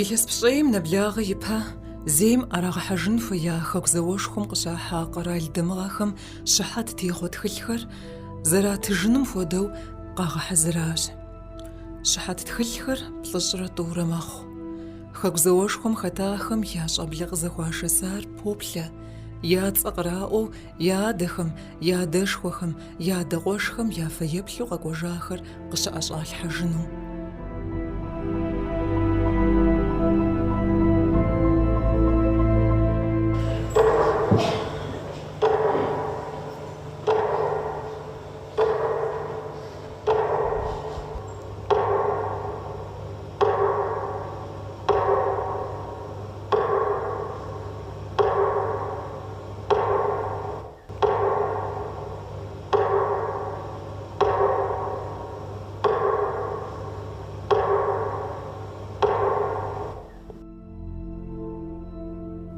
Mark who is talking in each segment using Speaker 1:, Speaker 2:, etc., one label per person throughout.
Speaker 1: Илъэс пщӏейм нэблагъэ ипэ зейм ӏэрагъэхьэжын хуея Хэку зауэшхуэм къыщахьа къэрал дамыгъэхэм щыхьэт техъуэ тхылъхэр зэратыжыным хуэдэу къагъэхьэзыращ. Щыхьэт тхылъхэр плӏыщӏрэ тӏурэ мэхъу. Хэку зауэшхуэм хэтахэм я щӏэблэ къызэхуашэсар поплъэ, я цӏэ къраӏуэу Я адэхэм, я адэшхуэхэм, я адэ къуэшхэм я фэеплъу къэкӏуэжахэр къыщыӏэщӏалъхьэжыну.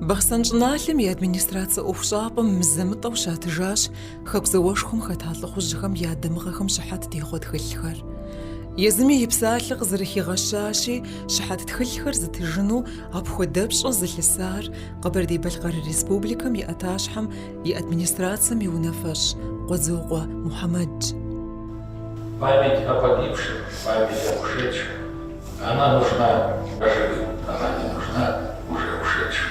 Speaker 1: Бахъсэн щӏыналъэм и администрацэ ӏуэхущӏапӏэм мызэ-мытӏэу щатыжащ Хэку зауэшхуэм хэта лӏыхъужьхэм я дамыгъэхэм щыхьэт техъуэ тхылъхэр. Езыми и псалъэ къызэрыхигъэщащи, щыхьэт тхылъхэр зытыжыну апхуэдэ пщӏэ зылъысар Къэбэрдей-Балъкъэр Республикэм и ӏэтащхьэм и администрацэм и унафэщӏ Къуэдзокъуэ Мухьэмэдщ. Память
Speaker 2: о погибших, память об ушедших, она нужна живым, она не нужна уже ушедшим.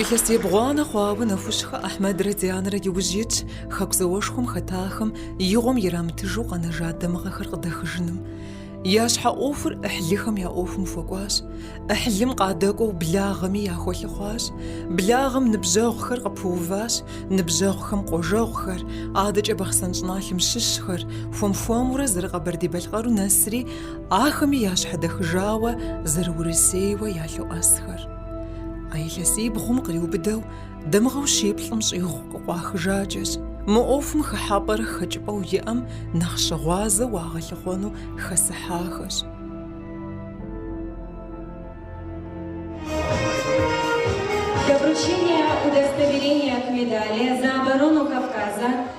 Speaker 1: Илъэс ебгъуанэ хъуауэ Нэхущхэ Ахьмэдрэ Дианэрэ иужь итщ Хэку зауэшхуэм хэтахэм и гъуэм ирамытыжу къэнэжа дамыгъэхэр къыдэхыжыным. Я щхьэ ӏуэхур ӏыхьлыхэм я ӏуэхум хуэкӏуащ. ӏыхьлым къадэкӏуэу благъэми яхуэлъыхъуащ. Благъэм ныбжьэгъухэр къыпыуващ, ныбжьэгъухэм къуажэгъухэр, адэкӏэ Бахъсэн щӏыналъэм щыщхэр, хуэм-хуэмурэ зэры Къэбэрдей-Балъкъэру нэсри, Ахэми ящхьэдэхыжауэ зэры Урысейуэ ялъоӏэсхэр. А илъэсибгъум къриубыдэу дамыгъэу щиплӏым щӏигъу къыкъуахыжакӏэщ, мы ӏуэхум хыхьэпӏэрэ хэкӏыпӏэу иӏэм нэхъ щыгъуазэу уагъэлъыхъуэну хэсыхьахэщ. Для вручения
Speaker 3: удостоверения к медали за оборону Кавказа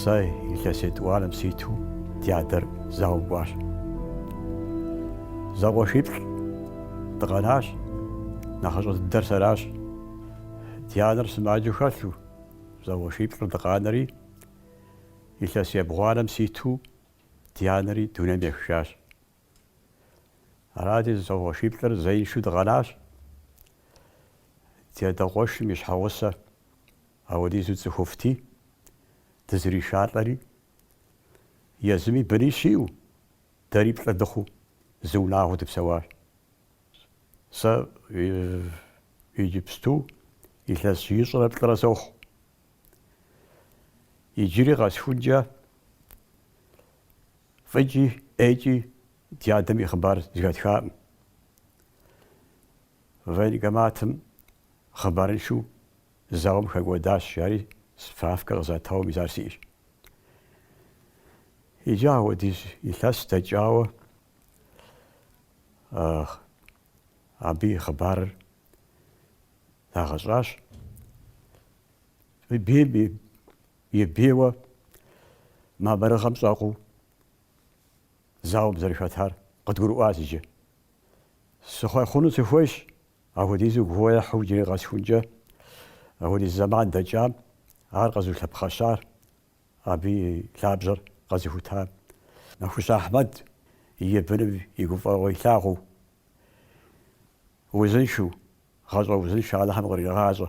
Speaker 4: Сэ илъэс етӏуанэм ситу ди адэр зауэм кӏуащ. Зэкъуэшиплӏ дыкъэнащ, нэхъыщӏэ дыдэр сэращ. Ди анэр сымаджэу хэлъу, зэкъуэшиплӏыр дыкъанэри, илъэс ебгъуанэм ситу ди анэри дунейм ехыжащ. Арати, зэкъуэшиплӏыр зеиншэу дыкъэнащ. Ди адэ къуэшым и щхьэгъусэ. Апхуэдизу цӏыхуфӏти, дызэришалӏэри, езыми бынищ иӏэу, дэри плӏы дыхъуу зы унагъуэу дыпсэуащ. Сэ иджыпсту илъэс ищӏрэ плӏырэ сохъу. Иджыри къэсхункӏэ фӏыкӏи ӏейкӏи ди адэм и хъыбар зэхэтхакъым. Военкоматым хъыбарыншэу зауэм хэкӏуэдащ, жари справкэ къызатауэ мис ар сиӏэщ. Иджы апхуэдиз илъэс дэкӏауэ абы и хъыбарыр дагъэщӏащ. Бийм и бийуэ мамырыгъэм щӏэкъуу зауэм зэрыхэтар къыдгурыӏуащ иджы. Сыхъуэхъуну сыхуейщ Апхуэдизу гугъу ехьу иджыри къэсхункӏэ апхуэдиз зэман дэкӏам ар къэзыулъэпхъэщар, абы и лъабжьэр къэзыхутам. Нэхущ Ахьмэд и быным и гуфӏэгъуэ илъагъуу, узыншэу, гъащӏэ узыншэ Алыхьым къригъащӏэ.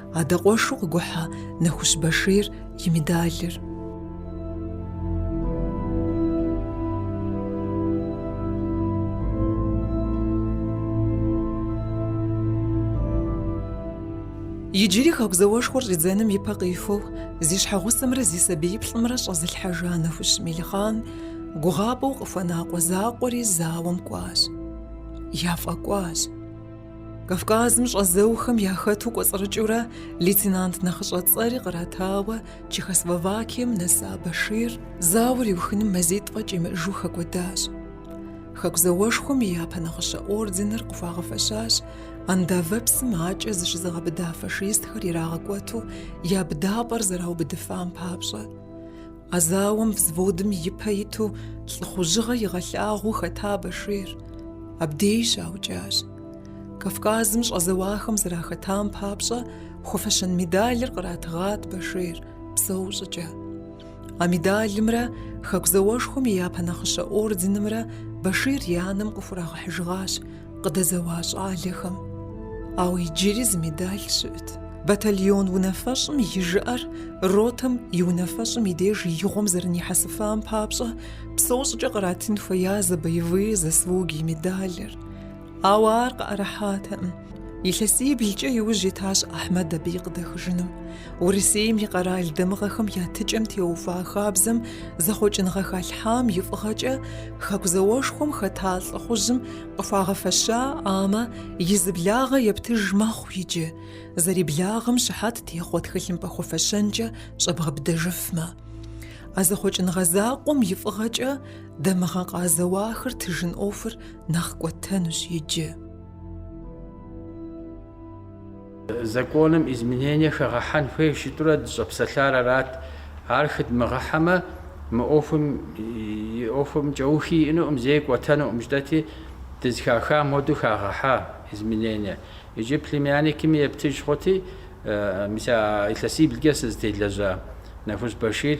Speaker 1: Адэ къуэшу къыгухьа Нэхущ Башир и медалыр. Иджыри Хэку зауэшхуэр щӏидзэным и пэ къихуэу зи щхьэгъусэмрэ зи сабииплӏымрэ щӏэзылъхьэжа Нэхущ Мелихъан гугъапӏэу къыхуэна къуэ закъуэри зауэм кӏуащ. Яфӏэкӏуащ. Кавказым щӏэзэухэм яхэту кӏуэцӏрыкӏыурэ лейтенант нэхъыщӏэ цӏэри къратауэ Чехословакием нэса Башир зауэр иухыным мазитӏ фӏэкӏ имыӏэжу хэкӏуэдащ. Хэку зауэшхуэм и япэ нагъыщэ орденыр къыхуагъэфэщащ Ондавэ псым акӏэ зыщызыгъэбыда фашистхэр ирагъэкӏуэту я быдапӏэр зэраубыдыфам папщӏэ. А зауэм взводым и пэ иту лӏыхъужьыгъэ игъэлъагъуу хэта Башир абдей щаукӏащ. Кавказым щӏэзэуахэм зэрахэтам папщӏэ хуэфэщэн медалыр къратыгъат Башир псэу щӏыкӏэ. А медалымрэ Хэку зауэшхуэм и япэ нагъыщэ орденымрэ Башир и анэм къыхурагъэхьыжыгъащ Къыдэзэуа щӏалэхэм, ауэ иджыри зы медаль щыӏэт. Батальон унафэщӏым и жыӏэр ротэм и унафэщӏым и деж игъуэм зэрынихьэсыфам папщӏэ псэу щӏыкӏэ къратын хуея «За боевые заслуги» медалыр. Ауэ ар къыӏэрыхьатэкъым. Илъэсиблкӏэ иужь итащ Ахьмэд абы и къыдэхыжыным. Урысейм и къэрал дамыгъэхэм я тыкӏэм теухуа хабзэм зэхъуэкӏыныгъэ халъхьам и фӏыгъэкӏэ Хэку зауэшхуэм хэта лӏыхъужьым Къыхуагъэфэщаӏамэ, и зы благъэ ептыж мэхъу иджы, зэриблагъэм щыхьэт техъуэ тхылъымпӏэ хуэфэщэнкӏэ щӏэбгъэбыдэжыфмэ. А зэхъуэкӏыныгъэ закъуэм и фӏыгъэкӏэ дамыгъэ къазэуахэр тыжын ӏуэхур нэхъ кӏуэтэнущ иджы.
Speaker 5: Законым изменение хэгъэхьэн хуейщ жытӏэурэ дыщӏэпсэлъар арат. Ар хыдмыгъэхьэмэ, мы ӏуэхум и ӏуэхум кӏэухи иӏэнукъым, зэи кӏуэтэнукъым жытӏэти, дызэхахам хуэдэу хагъэхьа изменение. Иджы племянникми ептыж хъути, мис а илъэсиблкӏэ сызытелэжьа Нэхущ Бэшир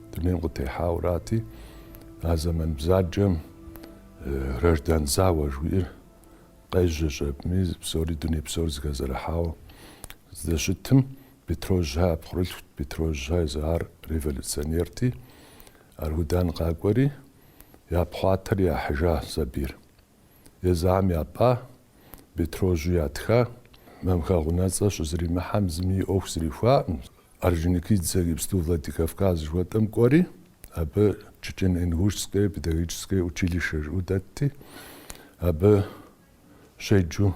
Speaker 6: Дунейм къытехьаурати, а зэман бзаджэм граждан зауэ жуиӏэр къежьэщ аби, псори дуней псор зыхэзэрыхьауэ здэщытым, Бетрожьхэ я пхъурылъхут, Бетрожьхэ езы ар революционерти, Аргудан къакӏуэри, япхъуатэри яхьыжа сабийр. Езыхэм япӏа, Бетрожьу ятха, Мамхэгъ унэцӏэ щызримыхьэм зыми и ӏуэху зрихуаӏым. Орджоникидзе иджыпсту Владикавказ жыхуэтӏэм кӏуэри, абы Чечен-Ингушское педагогическое училище жыӏэу дэтти, абы щеджэу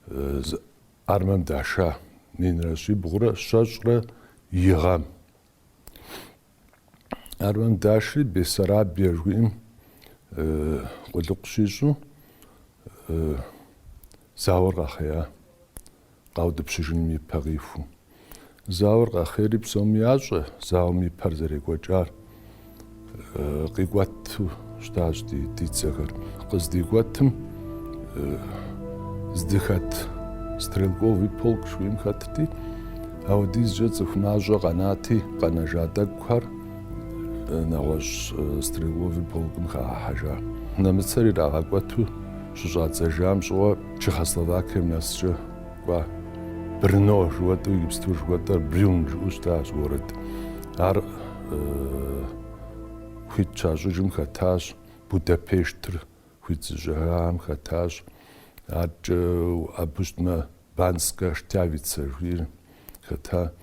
Speaker 6: зы армэм даша, минрэ щибгъурэ щэщӏрэ и гъэм. Армэм дашри Бессарабия жыхуиӏэм къулыкъу щищӏэу зауэр къэхъея, къаутӏыпщыжыным и пэ къихуэу. Зауэр къэхъейри псоми ящӏэ зауэм и пэр зэрекӏуэкӏар къикӏуэту. щытащ ди ди дзэхэр. Къыздикӏуэтым здыхэт стрелковый полк жыхуиӏэм хэтти, апхуэдизкӏэ цӏыху мащӏэ къэнати, къэнэжа тӏэкӏухэр нэгъуэщӏ стрелковый полкым хагъэхьэжа. Нэмыцэр ирагъэкӏуэту щыщӏадзэжам щӏыгъуу Чехословакием нэскӏэ кӏуа. Брно жыхуэтӏэу иджыпсту жыхуэтӏэр Брюн жыӏэу щытащ город. Ар хуит щащӏыжым хэтащ, Будапештыр хуит зыщӏыжахэм хэтащ, адэкӏэ абы щытмэ Банска Штявица жиӏэри хэта,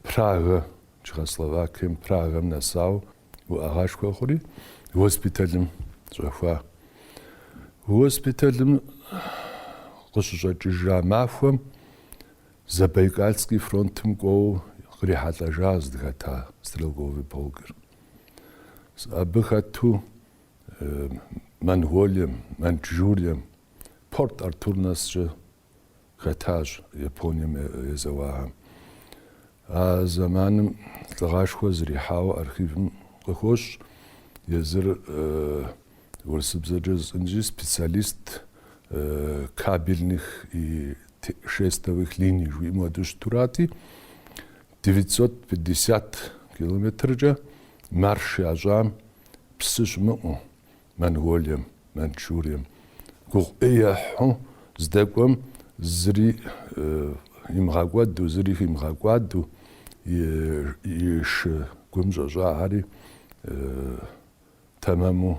Speaker 6: Прага, Чехословакием Прагэм нэсауэ уӏэгъашхуэ хъури, госпиталым щӏэхуа. Госпиталым къыщыщӏэкӏыжа махуэм Забайкальский фронтым кӏуэу кърихьэлӏэжа здыхэта стрелковый полкыр. Абы хэту Монголием, Маньчжурием, Порт Артур нэскӏэ хэтащ Японием езэуахэм. А зэманым лӏыгъашхуэ зэрихьауэ архивым къыхощ езыр урысыбзэкӏэ жысӏэнщи специалист кабельных и шестовых линий жыхуиӏэм хуэдэу щытурати, девятьсот пятьдесят километркӏэ марш ящӏам псы щымыӏэу Монголием, Маньчжурием гугъу ӏей ехьу здэкӏуэм зыри имыгъэкӏуэду, зыри химыгъэкӏуадэу и шы гум щӏэщӏахэри. Тэмэму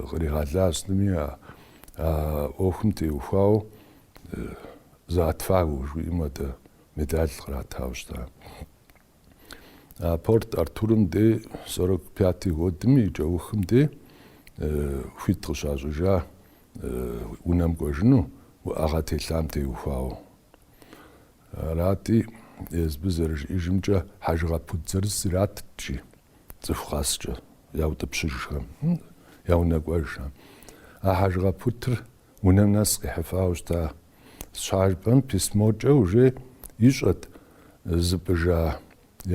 Speaker 6: къригъэлащ зыми а ӏуэхум теухуауэ За отвагу жыхуиӏэм хуэдэ медаль къратауэ щыта. А Порт Артурым дей сорок пятый годым и кӏэухым дей хуит къыщащӏыжа унэм кӏуэжыну уӏэгъэ телъам теухуауэ. Арати, езыбы зэрыжиӏэжымкӏэ хьэжыгъэ пут зырыз иратт жи. Цӏыху къэскӏэ яутӏыпщыжхэм, я унэ кӏуэжхэм. А хьэжыгъэ путыр унэм нэс къихьыфауэ щыта щхьэ жыпӏэм письмокӏэ уже ищӏэт, зыпӏыжа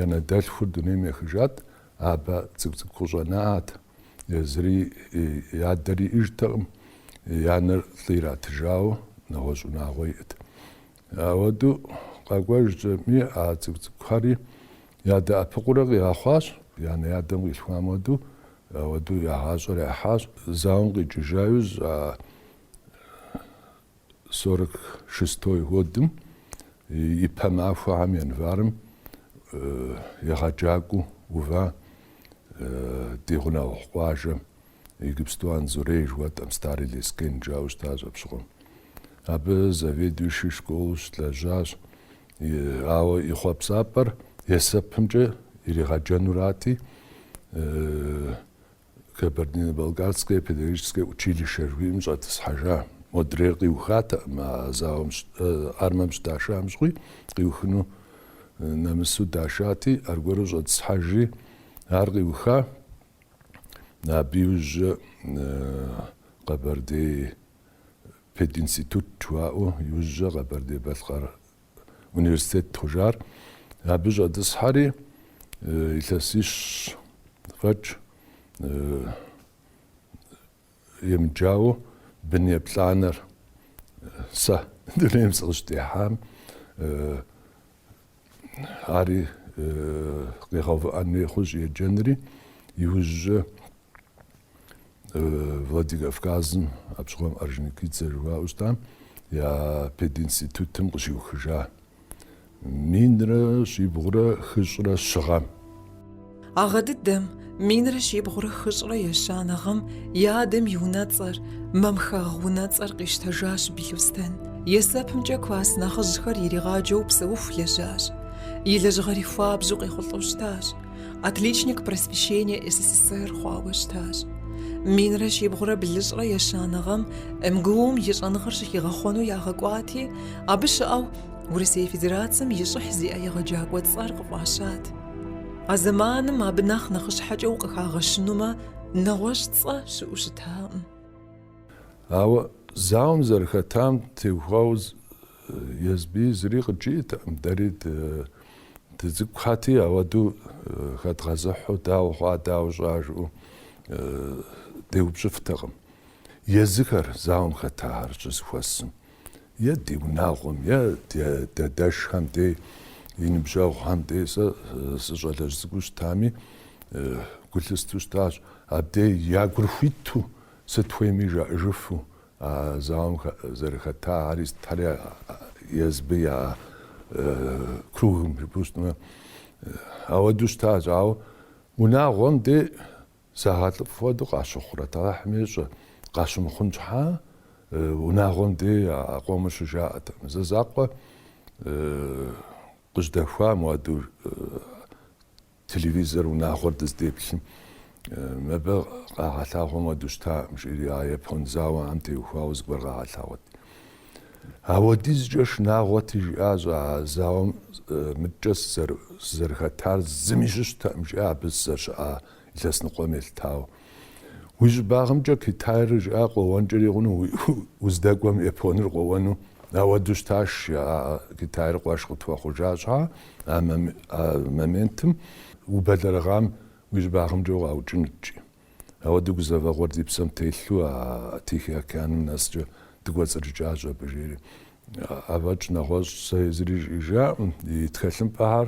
Speaker 6: янэ дэлъхур дунейм ехыжат, абы цӏыкӏу-цӏыкӏу къыщӏэнат, езыри и адэр иӏэжтэкъым, и анэр лӏы иратыжауэ нэгъуэщӏ унагъуэ иӏэт. Ауэдэу къэкӏуэжкӏэми, а цӏыкӏу-цӏыкӏухэри ядэӏэпыкъуурэ къигъэхъуащ, янэ-ядэм къилъхуам хуэдэу, ауэдэу я гъащӏэр яхьащ. Зауэм къикӏыжа иужь, а сорок шестой годым ипэ махуэхэм январым егъэджакӏуэу ува ди гъунэгъу къуажэм. Иджыпсту Анзорей жыхуэтӏэм Старый Лескен жаӏэу щытащ абщыгъуэм. Абы заведующий школу щылэжьащ, ауэ и хъуэпсапӏэр есэпымкӏэ иригъэджэнурати, Кабардино-Балкарское педагогическое училище жыхуиӏэм щӏэтӏысхьэжа. Модрейр къиухатэкъым а зауэм, армэм щыдашам щыгъуи, къиухыну нэмысу дашати, аргуэру щӏэтӏысхьэжри, ар къиуха, Абы иужькӏэ Къэбэрдей пединститут жыхуаӏэу иужькӏэ Къэбэрдей-Балъкъэр университет хъужар. Абы щӏэтӏысхьэри илъэсищ фӏэкӏ Емыджауэ, бын еплӏанэр сэ дунейм сыкъыщытехьам ари къигъэувыӏэн хуей хъущ еджэнри, иужькӏэ Владикавказым абщыгъуэм Орджоникидзе жыхуаӏэу щытам я пединститутым къыщиухыжа Минрэ щибгъурэ хыщӏрэ щы гъэм. А
Speaker 1: гъэ дыдэм, минрэ щибгъурэ хыщӏрэ ещанэ гъэм и адэм и унэцӏэр, Мамхэгъ унэцӏэр къищтэжащ Билъостэн. Есэпымкӏэ класс нэхъыжьхэр иригъаджэу псэуху лэжьащ. И лэжьыгъэри хуабжьу къехъулӏэу щытащ. отличник просвещения СССР хъуауэ щытащ. Минрэ щибгъурэ блыщӏрэ ещанэ гъэм МГУ-м и щӏэныгъэр щыхигъэхъуэну ягъэкӏуати, абы щыӏэу Урысей Федерацэм и щӏыхь зиӏэ егъэджакӏуэ цӏэр къыфӏащат. А зэманым абы нэхъ нэхъыщхьэкӏэ укъыхагъэщынумэ, нэгъуэщӏ цӏэ щыӏэу щытакъым.
Speaker 6: Ауэ зауэм зэрыхэтам теухуауэ Езбыи зыри къыджиӏэтэкъым, дэри дыцӏыкӏухэти, ауэдэу хэдгъэзыхьу, дауэ хъуа, дауэ щӏа жыӏэу деупщӏыфтэкъым. Езыхэр, зауэм хэтахэр щызэхуэсым, е ди унагъуэм, е ди адэшхэм дей, и ныбжьэгъухэм дей, сэ сыщӏалэжь цӏыкӏуу щытами, гу лъыстэу щытащ, абдей я гур хуиту, сыт хуейми жаӏэжыфу, А зауэм зэрыхэта ари сытхэри езбы я кругым, жыпӏэу щытмэ, ауэдэу щытащ. Ауэ унагъуэм де загъэлӏыфӏ хуэдэу къащыхъурэт? Алыхьым ещӏэ, къащымыхъун щхьа, унагъуэм де а къомыр щыжаӏэтэкъым. Зэ закъуэ къыжьэдэхуам, ауэдэу Телевизор унагъуэр дыздеплъым, мыбы къагъэлъагъуэм хуэдэу щытакъым, жери а япон зауэм теухуауэ зыгуэр къагъэлъагъуэт. Ауэдизкӏэ шынагъуэти, жиӏащ, а зауэм мыдкӏэ сызэрыхэтар зыми щыщтэкъым, жиӏэ абы сызэрыщыӏа илъэс ныкъуэм елъытауэ. Уи щӏыбагъымкӏэ Китайр жиӏа къуэуэнкӏэри хъуну, уздэкӏуэм Японыр къуэуэну, ауэдэу щытащ, жаӏэ Китайр къуэш къытхуэхъужа щхьа а моментым, убэлэрыгъам уи щӏыбагъымкӏэ укъаукӏынуткӏи. Ауэдэу гузэвэгъуэр ди псэм телъу а Тихий океаным нэскӏэ дыкӏуэцӏрыкӏащ абы, жери. Афӏэкӏ нэгъуэщӏ сэ езыри жиӏэжаӏым, и тхэлъымпӏэхэр.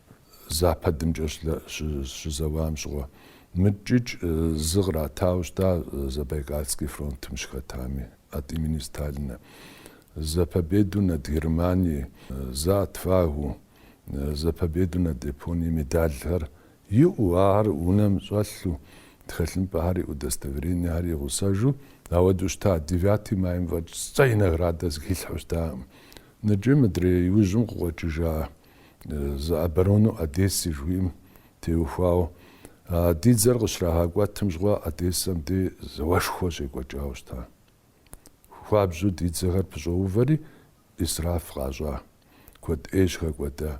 Speaker 6: Западымкӏэ щызэуам щыгъуэ мыкӏыкӏ зы къратауэ щыта Забайкальский фронтым щыхэтами, от имени Сталина. За победу над Германией, за отвагу, за победу над Японией медальхэр иӏэу, ахэр унэм щӏэлъу, тхэлъымпӏэхэр и удостоверениехэр игъусэжу, ауэдэу щыта. Девятый майм фӏэкӏ сцӏэ и наградэ зыхилъхьэу щытаӏым. Ныджы мыдрей иужьым къыкъуэкӏыжа За оборону Одессы жыхуиӏэм теухуауэ. А ди дзэр къыщрагъэкӏуэтым щыгъуэ Одессэм де зауэшхуэ щекӏуэкӏауэ щыта. Хуабжьу ди дзэхэр пыщӏэувэри исраф къащӏа. Куэд ӏейщ хэкӏуэда.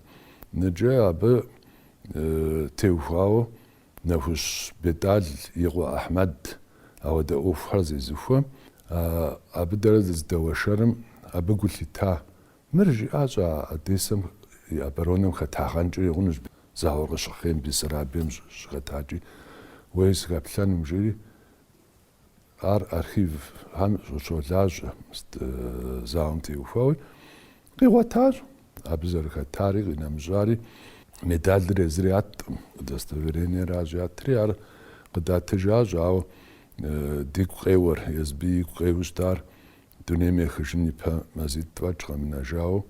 Speaker 6: Ныджы абы теухуауэ Нэхущ Бетӏал и къуэ Ахьмэд ауэдэ ӏуэхухэр зезыхуэ. Абы дэрэ дызыдэуэшэрым абы гу лъита Мыр жиӏащ а Одессэм и оборонэм хэтагъэнкӏи хъунущ зауэр къыщыхъейм, Бессарабием щыхэтакӏи, уей сыхэплъэнум, жери ар архивхэм щолажьэ, зауэм теухуауи, къигъуэтащ, абы зэрыхэтари къинэмыщӏари, медалыр езыр ятӏым, удостоверениеращ ятри, ар къыдатыжащ, ауэ дигу къеуэр, езби игу къеуэу щытар Дунейм ехыжын ипэ мазитӏ фӏэкӏ къэмынэжауэ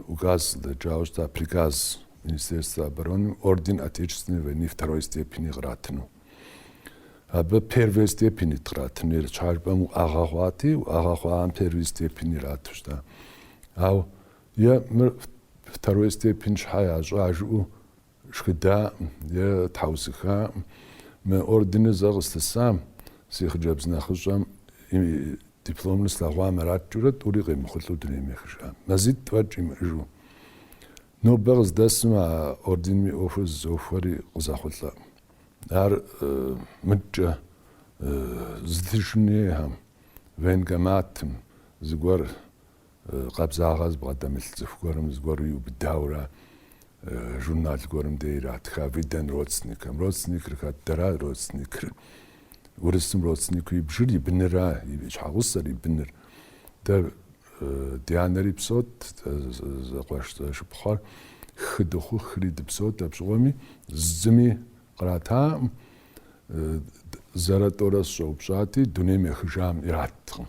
Speaker 6: указ дэкӏауэ щыта приказ Министерства обороны орден Отечественной войны второй степени къратыну. Абы первой степени къратыну ар щхьэ жыпӏэм уӏэгъэ хъуати, уӏэгъэ хъуам первой степени ирату щыта. Ауэ е мыр второй степень щхьэ ящӏа жыӏэу шхыдаӏым е тхьэусыхаӏым, мы орденыр зэ къыстысам, си хъыджэбз нэхъыщӏэм и дипломыр слъэгъуам араткӏыурэ тӏури къемыхъулӏэу дунейм ехыжам. Мазитӏ фӏэкӏ имыӏэжу. Нобэ къыздэсым а орденым и ӏуэхур зызохуэри къызэхъулӏэӏым. Ар мыдкӏэ зытыжынейхэм, военкоматым зыгуэр Къабзагъэ зыбгъэдэмылъ цӏыху гуэрым зыгуэру иубыдаурэ журнал гуэрым де иратха выдан родственникам. Родственникыр хэт дэра родственникыр. Урысым родственнику ибжыр, и быныра, и щхьэгъусэр, и быныр. Дэ ди анэри псот, зэкъуэш зэшыпхъуэр хы дыхъу хыри дыпсот, апщыгъуэми зыми къратаӏым. Зэрэ тӏорэ сщӏэупщӏати, дунейм ехыжам ираткъым.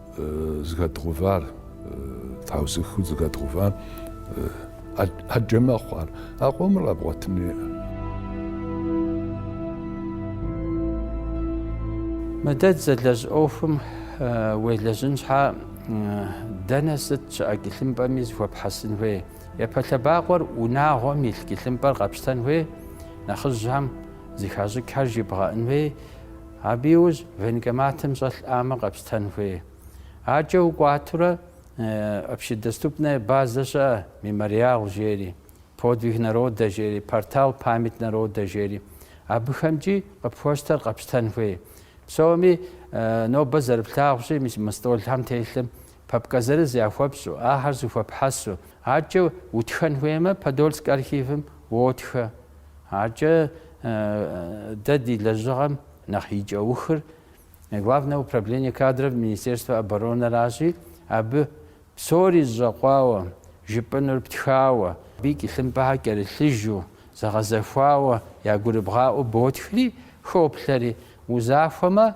Speaker 6: зыхэдгъувар, тхьэусыхэу зыхэдгъувар ӏэджэ мэхъу ар. А къомыр къэбгъуэтыну иӏэ.
Speaker 5: Мыдэ дызэлэжь ӏуэхум уелэжьын щхьа дэнэ сыт щыӏэ кӏылъымпӏэми зыхуэпхьэсын хуей. Япэ лъэбакъуэр унагъуэм илъ кӏылъымпӏэр къэпщтэн хуей, нэхъыжьхэм зыхащӏыкӏхэр жибгъэӏын хуей, Абы иужь военкоматым щӏэлъӏамэ къэпщтэн хуей. Адэкӏэ укӏуатурэ общедоступная базэ щыӏэ, мемориал жери, подвиг народа жери, портал память народа жери. Абыхэмкӏи къыпхуэщтэр къэпщтэн хуей. Псоми нобэ зэрыплъагъущи, мис мы стӏолхэм телъым Папкэ зырыз яхуэпщӏу, ахэр зыхуэпхьэсу, адэкӏэ утхэн хуеймэ, Подольск архивым уотхэ. Адэкӏэ дэ ди лэжьыгъэм нэхъ и кӏэухыр Главное управление кадров Министерства оборонэращи, абы псори зэщӏэкъуауэ, жыпӏэнур птхауэ, абы кӏылъымпӏэхэр кӏэрылъыжу, зэгъэзэхуауэ, ягурыбгъаӏуэу ботхри, хоплъэри, узахуэмэ,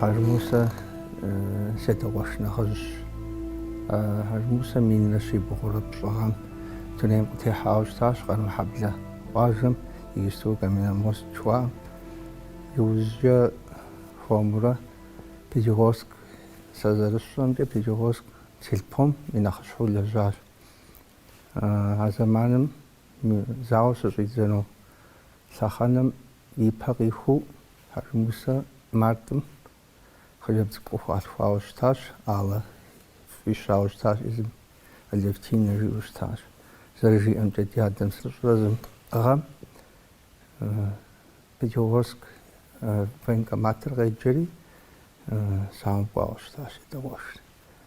Speaker 7: Хьэжмусэ си адэ къуэш нэхъыжьщ. Хьэжмусэ минрэ щибгъурэ пщӏы гъэм дунейм къытехьауэ щытащ Къармэхьэблэ къуажэм иджыпсту Каменномост жыхуаӏэм. Иужькӏэ хуэмурэ Пятигорск, сэ зэрысщӏэмкӏэ, Пятигорск сельпом и нэхъыщхьэу лэжьащ. А зэманым зауэр щыщӏидзэну лъэхъэнэм и пэ къихуу Хьэжмусэ мартым хъыджэбз цӏыкӏу къыхуалъхуауэ щытащ, Аллэ фӏищауэ щытащ езым, Алевтинэ жиӏэу щытащ. Зэрыжиӏэмкӏэ, ди адэм плӏыщӏрэ зым гъэм Пятигорск военкоматыр къеджэри, зауэм кӏуауэ щытащ, си адэ къуэшри.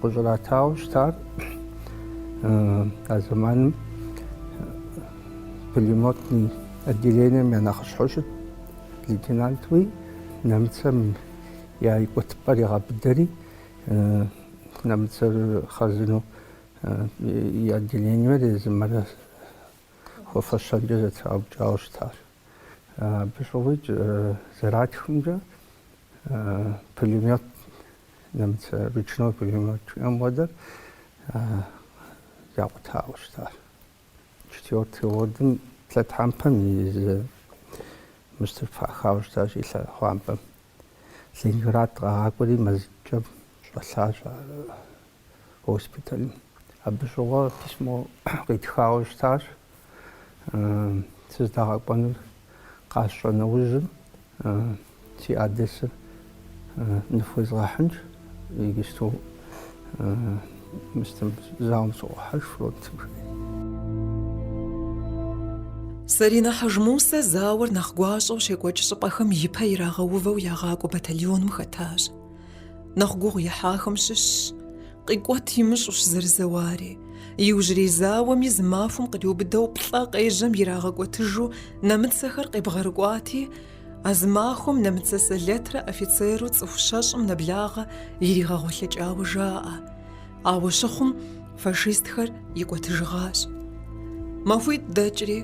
Speaker 7: Къыщӏратауэ щытар а зэманым пулеметный отделением я нэхъыщхьэу щыт лейтенантуи нэмыцэм я икӏуэтыпӏэр игъэбыдэри, нэмыцэр хъарзынэу и отделениемрэ езымрэ хуэфэщэнкӏэ зэтраукӏауэ щытащ. Абы щыгъуи зэратхымкӏэ пулемет Нэмыцэ ручной пулемет жиӏэм хуэдэр якъутауэ щытащ. Четвертый годым лъэтхьэмпэм и зы мыстыр пахауэ щытащ и лъэхъуампӏэм. Ленинград къагъакӏуэри мазэкӏэ щӏэлъащ ар. госпиталым. Абы щыгъуэ письмо къитхауэ щытащ. Сыздагъэкӏуэнур къасщӏэ нэужьым си адресыр ныфхуезгъэхьынщ, иджыпсту мыстым зауэм сыӏуохьэж, фронтым
Speaker 1: жери. Сэринэ Хьэжмусэ зауэр нэхъ гуащӏэу щекӏуэкӏ щӏыпӏэхэм ипэ ирагъэувэу ягъакӏуэ батальоным хэтащ. Нэхъ гугъу ихьахэм щыщщ. Къикӏуэт имыщӏэущ зэрызэуари. Иужьрей зауэми зы махуэм къриубыдэу плӏэ къежьэм ирагъэкӏуэтыжу нэмыцэхэр къебгъэрыкӏуати, а зы махуэм нэмыцэ сэлэтрэ офицеру цӏыху щэщӏым нэблагъэ иригъэгъуэлъыкӏауэ жаӏэ. Ауэ щыхъум, фашистхэр икӏуэтыжыгъащ. Махуитӏ дэкӏри,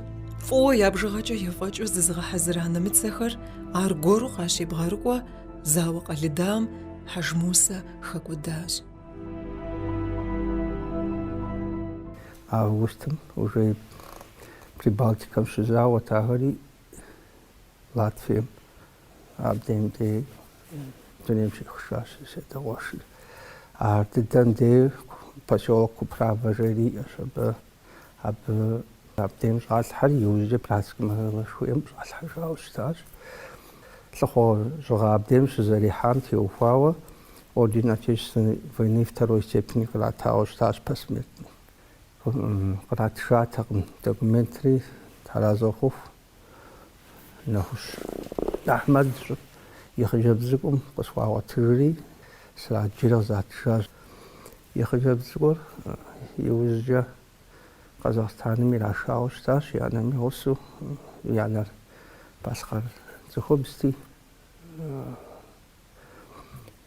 Speaker 1: фӏыуэ я бжыгъэкӏэ ефӏэкӏыу зызыгъэхьэзыра нэмыцэхэр аргуэру къащебгъэрыкӏуэ, Зауэ къэлыдам Хьэжмусэ
Speaker 7: хэкӏуэдащ. Августым уже Прибалтикэм щызауэт ахэри Латвием абдейм дей дунейм щехыжащ си адэ къуэшыр. Ар дыдэм дей поселок Куправа жери иӏэщ абы. Абы абдейм щӏалъхьэри иужькӏэ братскэ мащэшхуэм щӏалъхьэжауэ щытащ. Лӏыхъужьыгъэ абдейм щызэрихьам теухуауэ Орден Отечественной войны второй степени къратауэ щытащ посмертно. Къратыжатэкъым документри, тхьэразэ къыхухъу. Нэхущ Ахьмэд и хъыджэбз цӏыкӏум къысхуагъуэтыжри, сраджри къызатыжащ. И хъыджэбз цӏыкӏур иужькӏэ Къэзахъстаным ирашауэ щытащ, и анэм и гъусэу. И анэр балъкъэр цӏыхубзти.